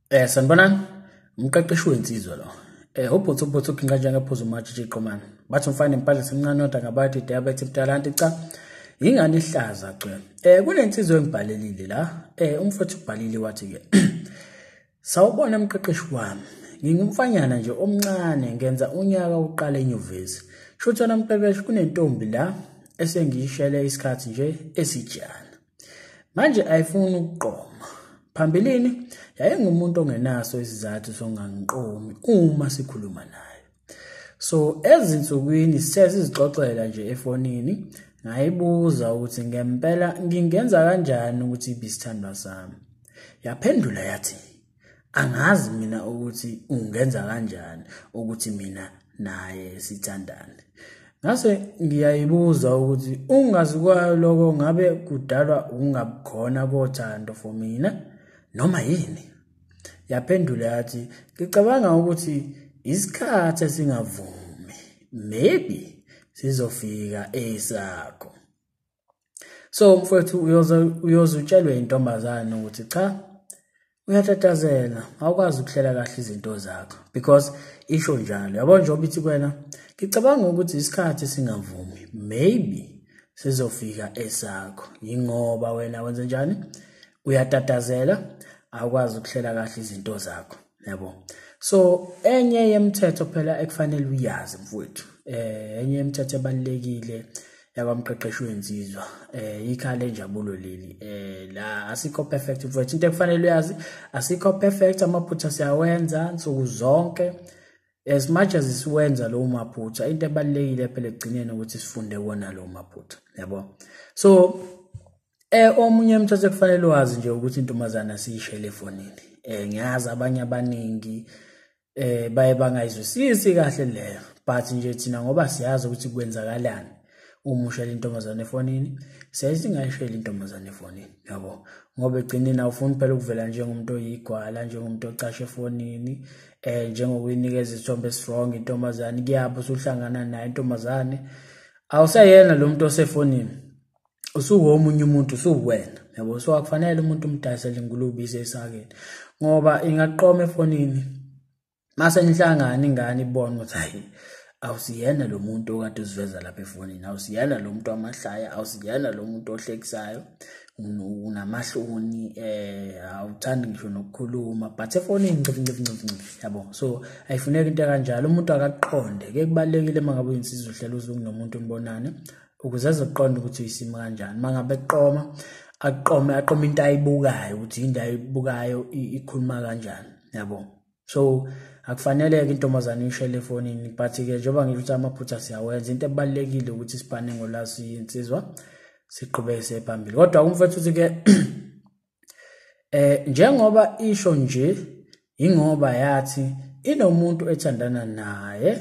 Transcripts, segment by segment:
Eh sanibonani. Umqeqeshi wensizwa lo. Eh ubhuthu ubhuthu ukhinqa njenge phuzu matshi jiqomana. Bathi umfana empahla semncane oda ngabathi diabetes mtalanti cha. Ingani ihlaza cwe. Eh kunensizwa engibhalelile la. Eh umfowethu ubhalile wathi ke. Sawubona umqeqeshi wami. Ngingumfanyana nje omncane ngenza unyaka uqala enyuvesi. Shutha namqeqeshi kunentombi la esengiyishele isikhathi nje esijana. manje ayifuni ukuqoma phambilini yayingumuntu ongenaso isizathu songangiqomi uma sikhuluma nayo so ezinsukwini sithe sizixoxela nje efonini ngayibuza ukuthi ngempela ngingenza kanjani ukuthi ibisithandwa sami yaphendula yathi angazi mina ukuthi ungenza kanjani ukuthi mina naye sithandane ngase ngiyayibuza ukuthi ungazi kwayo lokho ngabe kudalwa ukungabukhona kothando for mina noma yini yaphendula yathi ngicabanga ukuthi isikhathi esingavumi maybe sizofika esakho so mfowethu uyoze uyoze utshelwe intombazane ukuthi cha uyatatazela awukwazi ukuhlela kahle izinto zakho because isho njalo yabo njengoba ithi kwena ngicabanga ukuthi isikhathi singavumi maybe sizofika esakho yingoba wena wenze njani uyatatazela awukwazi ukuhlela kahle izinto zakho yabo so enye yemithetho phela ekufanele uyazi mfowethu eh enye yemithetho ebalekile yakwamqeqeshi wenzizwa eh ikhala lenjabulo leli eh la asikho perfect mfowethu into ekufanele uyazi asikho perfect amaphutha siyawenza nsuku zonke as much as siwenza lowo maphutha into ebalekile phela ekugcineni ukuthi sifunde wona lowo maphutha yabo so Eh omunye umthetho kufanele wazi nje ukuthi intombazana siyishele efonini. Eh ngiyazi abanye abaningi eh baye bangayizwisisi kahle leyo but nje thina ngoba siyazi ukuthi kwenzakalani uma ushela intombazane efonini siyaye singayisheli intombazane efonini yabo ngoba egcineni awufuni phela ukuvela njengomuntu oyigwala njengomuntu ocashe efonini eh njengokuyinikeza isithombe strong intombazane kuyapho usuhlangana nayo intombazane awusayena lo muntu osefonini usuwomunye umuntu usuwena yabo so akufanele umuntu umdayisele ingulube ize esakeni ngoba ingaqoma efonini mase nihlangana ingane ibone ukuthi hayi awusiyena lo muntu okade uziveza lapha efonini awusiyena lo muntu wamahlaya awusiyena lo muntu ohlekisayo unamahloni eh awuthandi ngisho nokukhuluma but efonini ncifi ncifi ncifi ncifi yabo so ayifuneki into kanjalo umuntu akaqonde ke kubalekile mangabe uyinsizwa uhlela uzuku nomuntu umbonane ukuze azoqonda ukuthi uyisimo kanjani uma ngabe qoma aqome aqome into ayibukayo ukuthi into ayibukayo ikhuluma kanjani yabo so akufanele-ke intombazane ishele efonini but-ke njengoba ngisho ukuthi amaphutha siyawenza into ebalulekile ukuthi sibhane ngolasi insizwa siqhubeke siye phambili kodwa umfethu uthi-ke eh njengoba isho nje ingoba yathi inomuntu ethandana naye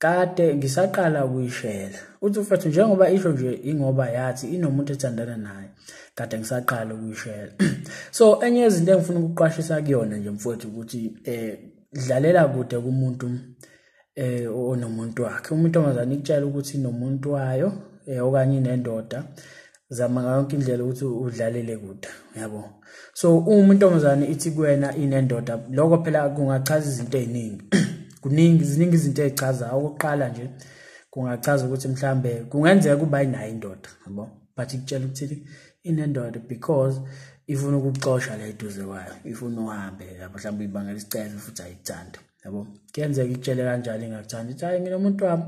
kade ngisaqala ukuyishela uthi mfethu njengoba isho nje ingoba yathi inomuntu ethandana naye kade ngisaqala ukuyishela so enye yezinto engifuna ukuqwashisa kuyona nje mfowethu ukuthi eh dlalela kude kumuntu eh onomuntu wakhe umuntu omazana ikutshela ukuthi inomuntu wayo eh okanye inendoda zama ngayo yonke indlela ukuthi udlalele kude yabo so uma intombazane ithi kuwena inendoda lokho phela kungachaza izinto eziningi kuningi ziningi izinto ezichaza okokuqala nje kungachaza ukuthi mhlambe kungenzeka kuba inayo indoda yabo but ikutshela ukuthi inendoda because ifuna ukuxosha la eduze kwayo ifuna uhambe yabo mhlawumbe ibangela isicelo futhi ayikuthanda yabo kuyenzeka ikutshele kanjalo ingakuthanda ithi hayi nginomuntu wami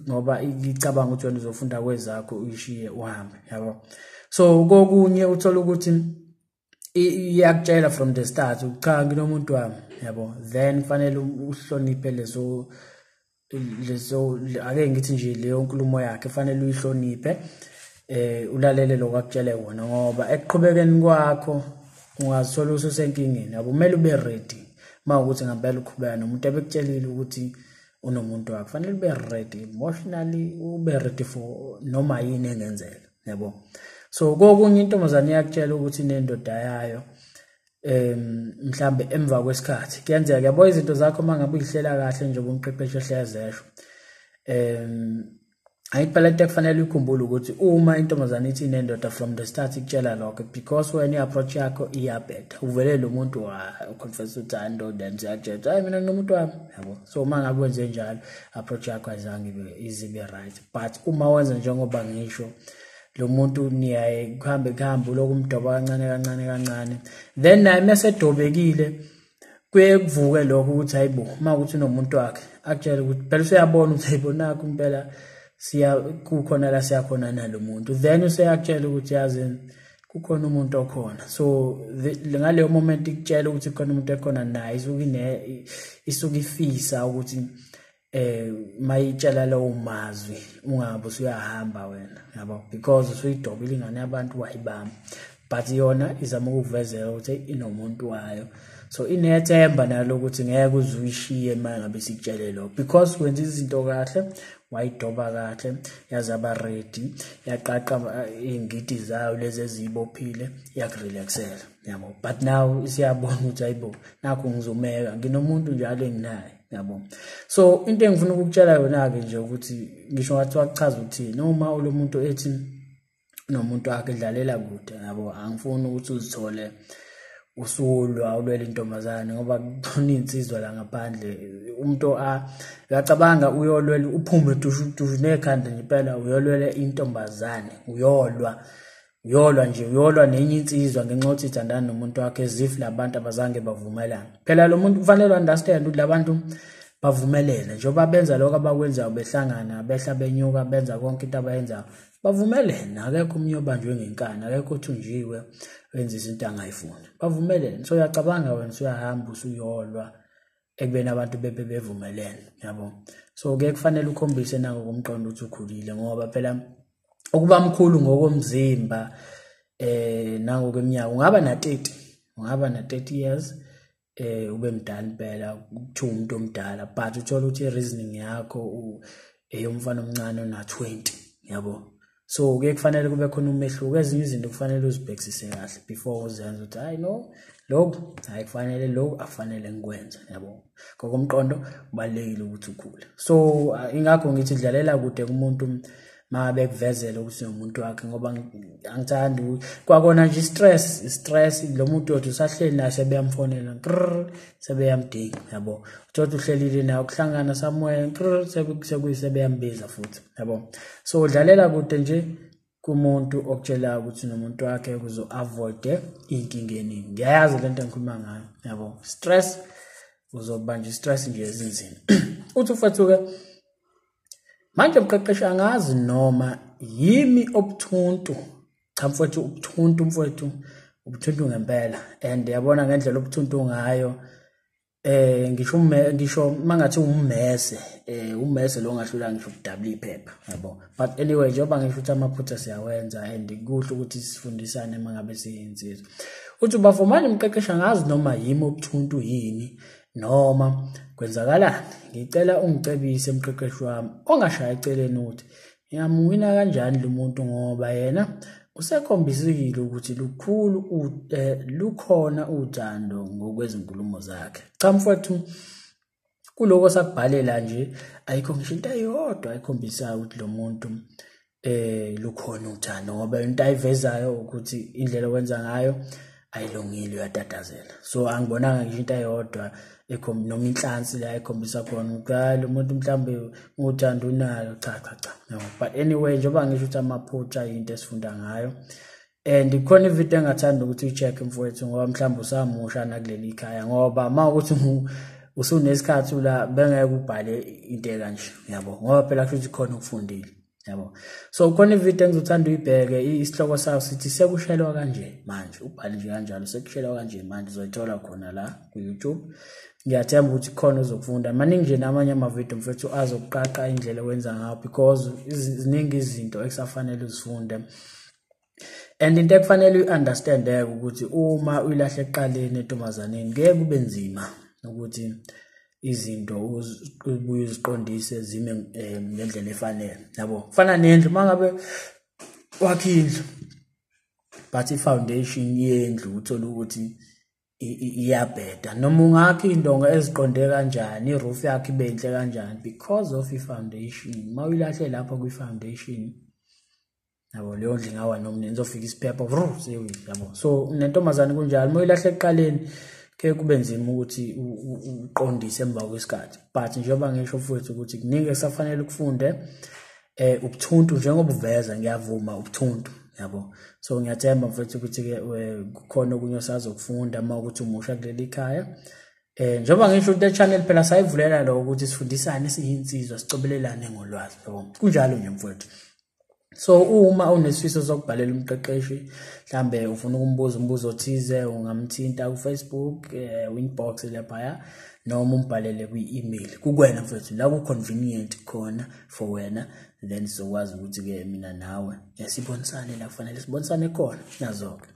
ngoba icabanga ukuthi wena uzofunda kwezakho uyishiye uhambe yabo so kokunye uthola ukuthi iyakutshela from the start cha nginomuntu wami yabo then kufanele uhloniphe lezo lezo ake ngithi nje leyo nkulumo yakhe kufanele uyihloniphe eh ulalele lokwakutshele wona ngoba ekuqhubekeni kwakho ungazithola ususenkingeni yabo kumele ube ready uma ukuthi ngempela uqhubeka nomuntu ebekutshelile ukuthi unomuntu wakho fanele ube ready emotionally ube ready for noma yini engenzeka yabo so kokunye intombazane iyakutshela ukuthi inendoda yayo em mhlambe emva kwesikhathi kuyenzeka yabo izinto zakho mangabe uyihlela kahle njengoba umqeqeshi ehlezesho em ayikuphela into ekufanele uyikhumbule ukuthi uma intombazane ithi inendoda from the start ikutshela lokho because wena i-approach yakho iyabhetha uvele lo muntu waconfess ukuthi hayi ndoda and uyajetha hayi mina nginomuntu wami yabo so uma ngabe wenze njalo approach yakho ayizange ibe izibe right but uma wenza njengoba ngisho lo muntu niyaye kuhambe kuhambe uloku umdoba kancane kancane kancane then naye mesedobekile kuye kuvuke lokho ukuthi hayi bo uma ukuthi unomuntu wakhe akutshele ukuthi phela useyabona ukuthi hayi bo nakho impela siya kukhona la siyakhona nalo muntu then useyakutshela ukuthi yazini kukhona umuntu okhona so ngaleyo moment ikutshela ukuthi kukhona umuntu ekhona naye isuke ine isuke ifisa ukuthi eh mayitshela lawo mazwi ungabe usuyahamba wena yabo because usuyidobile ingane yabantu wayibamba but yona izama ukukuvezela ukuthi inomuntu wayo so inethemba nalo ukuthi ngeke uze uyishiye uma ngabe sikutshele lokho because wenza izinto kahle wayidoba kahle yazaba ready yaqaqa eh, iy'ngidi zayo lezi eziyibophile yakurelaxela yabo but now isiyabona ukuthi ayibo nakho ngizomeka nginomuntu njalo enginaye yabo so into engifuna ukukutshela yona-ke nje ukuthi ngisho ngathi wakuchaza ukuthi noma ulo muntu ethi nomuntu wakhe dlalela kude yabo angifuni ukuthi uzithole usulwa ulwela intombazane ngoba kukhona iy'nsizwa la ngaphandle umuntu akacabanga uyolwela uphume dushu dushu nekhanda nje impela uyolwela intombazane uyolwa uyolwa nje uyolwa nenye insizwa ngenxa yokuthi ithandana nomuntu wakhe as if labantu abazange bavumelana phela lo muntu kufanele understand ukuthi labantu bavumelene njengoba benza lokho abakwenzayo behlangana behla benyuka benza konke into abayenzayo bavumelene akekho umnye obanjwe ngenkani akekho othunjiwe wenza izinto angayifuni bavumelene so uyacabanga wena usuyahamba usuyolwa ekubeni abantu bebe bevumelene yabo so ke kufanele ukhombise nako komqondo ukuthi ukhulile ngoba phela ukuba mkhulu ngokomzimba eh nangokweminyaka ungaba na 30 ungaba na 30 years eh ube mdala impela kuthiwa umuntu omdala but uthola ukuthi reasoning yakho eyomfana omncane ona 20 yabo so kuye kufanele kube khona umehluko ezinye izinto kufanele uzibhekisise kahle before uzenze ukuthi hayi no lokhu hayi kufanele lokhu akufanele ngikwenze yabo ngokomqondo kubalulekile ukuthi ukhule so uh, ingakho ngithi dlalela kude kumuntu ma bekuvezela ukuthi nomuntu wakhe ngoba angithandi kwakona nje stress stress lo muntu othi usahleli naye sebeyamfonela sebeyamdinga yabo uthi uhlelile naye ukuhlangana somewhere sebeyambiza futhi yabo so udlalela kude nje kumuntu okutshelayo ukuthi nomuntu wakhe ukuze u-avoide iy'nkinga eningi ngiyayazi le nto engikhuluma ngayo yabo stress uzobanja i-stress nje ezinzima uthi ufethuke manje mqeqeshi angazi noma yimi obuthuntu cha mfowethu ubuthuntu mfowethu ubuthuntu ngempela and yabona ngendlela ubuthuntu ngayo eh ngisho umme ngisho mangathi ummese eh ummese lo ngahlula ngisho ukudabula iphepha yabo but anyway njengoba ngisho ukuthi amaphutha siyawenza and kuhle ukuthi sifundisane mangabe siyinsizwa uthi bavumani umqeqeshi angazi noma yimi obuthuntu yini noma kwenzakalani ngicela ungicebise umqeqeshi wami ongashayi eceleni ukuthi Ngingamuwina kanjani lo muntu ngoba yena usekhombisekile ukuthi lukhulu eh, lukhona uthando ngokwezinkulumo zakhe. Cha mfowethu kuloko sakubhalela nje ayikho ngisho into eyodwa ekhombisayo ukuthi lo muntu eh lukhona uthando ngoba into ayivezayo ukuthi indlela owenza ngayo ayilungile uyatatazela so angibonanga ngisho into eyodwa noma inhlansi la ekhombisa khona ukuthi hayi lo muntu mhlawumbe uthanda unayo cha cha cha no but anyway njengoba ngisho ukuthi amaphutha yinto esifunda ngayo and khona ivideo engathanda ukuthi ucheck mfowethu ngoba mhlawumbe usamusha nakuleli khaya ngoba uma ukuthi usunesikhathi la bengeke ubhale into ekanje yabo ngoba phela kusho ukuthi khona ukufundile yabo so khona ivideo engizothanda uyibheke isihloko sayo sithi sekushelwa kanje manje ubhale nje kanjalo sekushelwa kanje manje uzoyithola khona la ku-youtube ngiyathemba ukuthi khona uzokufunda maningi nje namanye amavidiyo mfethu azokuqaqa indlela owenza ngayo because ziningi izinto ekusafanele uzifunde and into ekufanele uyi-understandeke ukuthi uma uyilahle ekuqaleni entombazaneni kuye kube nzima ukuthi izinto ubuye uziqondise zime eh, ngendlela efanele yabo kufana nendlu uma ngabe wakhe indlu but i-foundation yendlu uthole ukuthi iyabheda noma ungakha iy'ndonga eziqonde kanjani i-roof yakho ibe yinhle kanjani because of i-foundation uma uyilahle lapho kwi-foundation yabo leyo ndlu ingawa noma nini izofika isiphepho vru sewile yabo so nentombazane kunjalo uma uyilahle ekuqaleni ke kube nzima ukuthi uqondise emva kwesikhathi but njengoba ngisho futhi ukuthi kuningi esafanele ukufunde eh ubuthuntu njengoba uveza ngiyavuma ubuthuntu yabo so ngiyathemba mfethu ukuthi ke eh, kukhona okunye osazokufunda uma ukuthi umusha kuleli khaya eh njengoba ngisho ukuthi channel phela sayivulela lo ukuthi sifundisane siyinsizwa sicobelelane ngolwazi yabo kunjalo nje mfethu so uma unesifiso sokubhalela umqeqeshi mhlambe ufuna ukumbuza umbuzo othize ungamthinta kufacebook um eh, winbox laphaya noma umbhalele kwi-email kukwena mfethu la ku-convenient khona for wena then sizokwazi ukuthi-ke mina nawe sibonisane la kufanele sibonisane khona nazo-ke